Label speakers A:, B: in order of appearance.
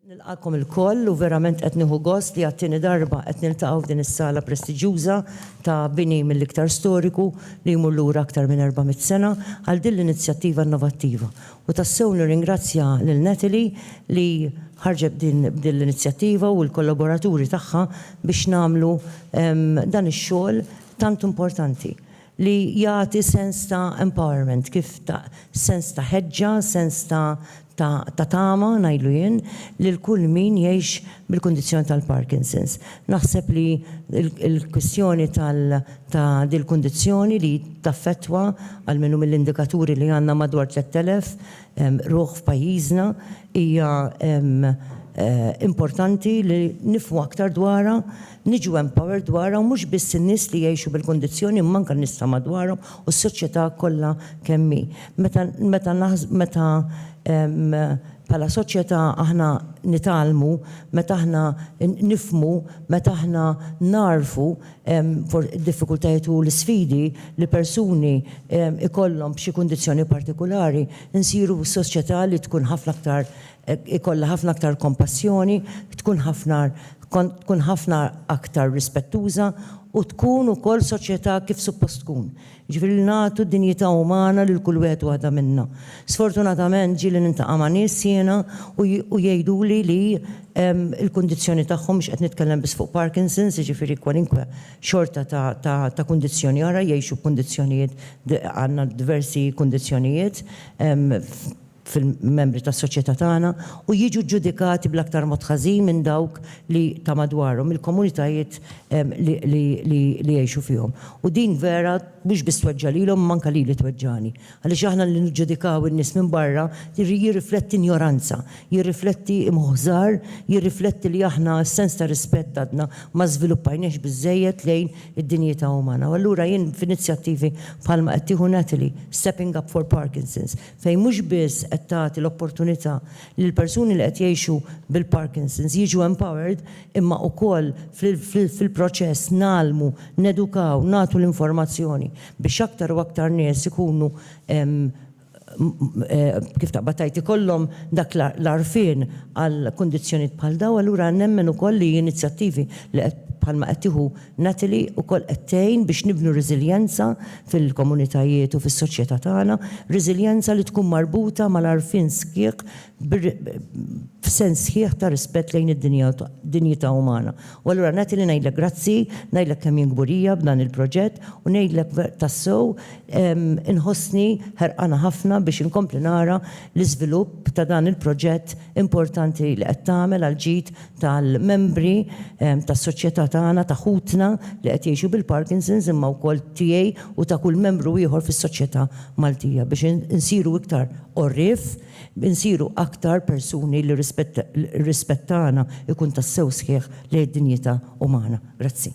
A: Nilqagħkom ilkoll u verament qed nieħu gost li għat-tieni darba qed niltaqgħu f'din is-sala prestiġjuża ta' bini mill-iktar storiku li jmur lura aktar minn 400 sena għal din l-inizjattiva innovattiva. U tassew nirringrazzja lil Natalie li ħarġet b'din l-inizjattiva u l-kollaboraturi tagħha biex nagħmlu dan ix-xogħol tant importanti li jagħti sens ta' empowerment kif ta' sens ta' ħeġġa, sens ta' ta' ta' tama, ngħidlu jien, lil kull min jgħix bil-kundizzjoni tal-Parkinson's. Naħseb li l-kwistjoni tal ta' dil-kundizzjoni li taffettwa, almenu mill-indikaturi li għandna madwar 3,000 ruħ f'pajjiżna, Hija importanti li nifhmu aktar dwarha, niġu empowered dwarha u mhux biss in-nies li jgħixu bil-kundizzjoni imma anke n-nies ta' madwarhom u s-soċjetà kollha kemm hi. Meta meta meta bħala soċjetà aħna nitgħallmu, meta aħna nifhmu, meta aħna nagħrfu d-diffikultajiet u l-isfidi li persuni jkollhom b'xi kundizzjoni partikulari, Insiru soċjetà li tkun ħafna aktar ikollha ħafna aktar kompassjoni, tkun ħafna tkun ħafna aktar rispettuża u tkun ukoll soċjetà kif suppost tkun. Jiġifieri li nagħtu dinjità umana lil kull wieħed u waħda minnha. Sfortunatament ġieli niltaqa' ma' nies jiena u jgħiduli li l-kundizzjoni tagħhom, mhux qed nitkellem biss fuq Parkinson's, jiġifieri kwalinkwe xorta ta' kundizzjoni oħra, jgħixu f'kundizzjonijiet, għandna diversi kundizzjonijiet fil-membri tas-soċjetà tagħna, u jiġu ġġudikati bl-aktar mod ħażin minn dawk li ta' madwarhom, mill-komunitajiet li jgħixu fihom. U din vera mhux biss tweġġa' lilhom imma anke lili tweġġagħni. Għaliex aħna li niġġudikaw in-nies minn barra jirrifletti injoranza, jirrifletti imħuħżar, jirrifletti li aħna s-sens ta' rispett għadna ma żviluppajniehx biżżejjed lejn id-dinjità umana. U allura jien f'inizjattivi bħalma qed tieħu Natalie, Stepping Up for Parkinson's, fejn mhux biss qed tagħti l-opportunità lill-persuni li qed jgħixu bil-Parkinson's jiġu empowered imma ukoll fil-proċess ngħallmu, nedukaw, nagħtu l-informazzjoni biex aktar u aktar nies ikunu kif taqbad tgħid ikollhom dak l-għarfien għal kundizzjonijiet bħal dawn, allura nemmen ukoll li inizjattivi li qed bħalma qed tieħu Natalie ukoll qed tgħin biex nibnu reżiljenza fil-komunitajiet u fis-soċjetà tagħna, reżiljenza li tkun marbuta mal-għarfien sħiħ f'sens sħiħ ta' rispett lejn id-dinjità umana. U allura nagħti li ngħidlek grazzi, ngħidlek kemm jien kburija b'dan il-proġett u ngħidlek tassew inħossni ħerqana ħafna biex inkompli nara l-iżvilupp ta' dan il-proġett importanti li qed tagħmel għall-ġid tal-membri tas-soċjetà tagħna, ta' ħutna li qed jgħixu bil-Parkinson's imma wkoll tiegħi u ta' kull membru ieħor fis-soċjetà Maltija biex insiru iktar għorrief, Insiru aktar persuni li r-rispett tagħna jkun tassew sħiħ lejn id-dinjità umana. Grazzi.